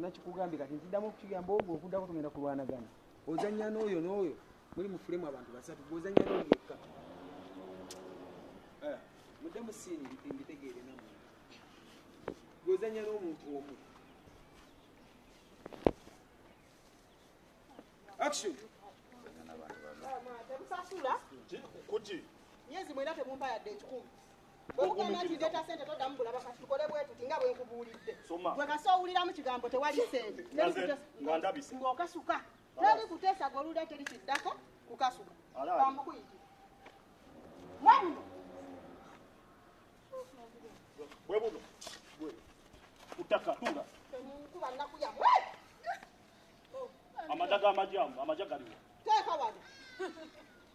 nakikugambye kati ntiddamu okukigamba ogwo okudako tugenda kulwanagana ozanya n'oyo n'oyo muli mufulemu abantu basatu gozanya n'oyo yekka eh, mudde musiini mbitegeere namu gozanya n'omuntu omu action kuki nyezi mwena temumpayadde ekikumi bwemugamba nti ndeeta sente toddamu bulaba kati tukole bwetuti nga bwenkubuulidde gwe kasi owuliramu kigambo tewali sente ng'okasuka teri kuteesa goluda teri kiddako kukasuka bamukuyiti mwamuno bwebuno kutakatula kuba nnaku yamwe amadaga amajamu amaja galiwo teeka wano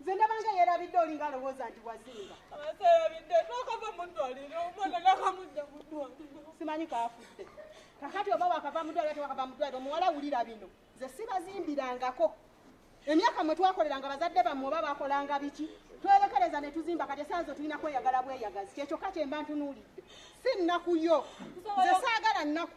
nze ndabanga yerabidde olinga alowooza nti wazinga simanyi kaafudde kakati oba wakava mudwaliro tewakava mudwaliro omuwala wulira bino nze sibazimbirangako emyaka mwe twakoleranga bazadde bammwe oba bakolanga biki twerekereza ne tuzimba kati esaa zo tulina kweyagala bweyagazi kyekyokka kyemba ntunuulidde si nnaku yo nze saagala nnaku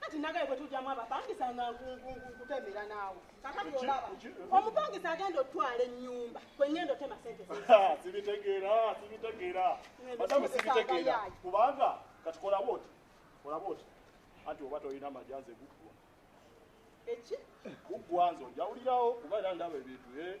kati nagaye bwetujamu abapangisa nga nkutemera naawe kakati olaba omupangisa agenda otwala ennyumba kwengenda otema sente sibitegeera sibitegeera madamu sibitegeera kubanga kati kolaba oti kolaba oti anti oba tolina majanze guggwa eki guggwa nze ojawulirawo kuba era ndaba ebintu e eh?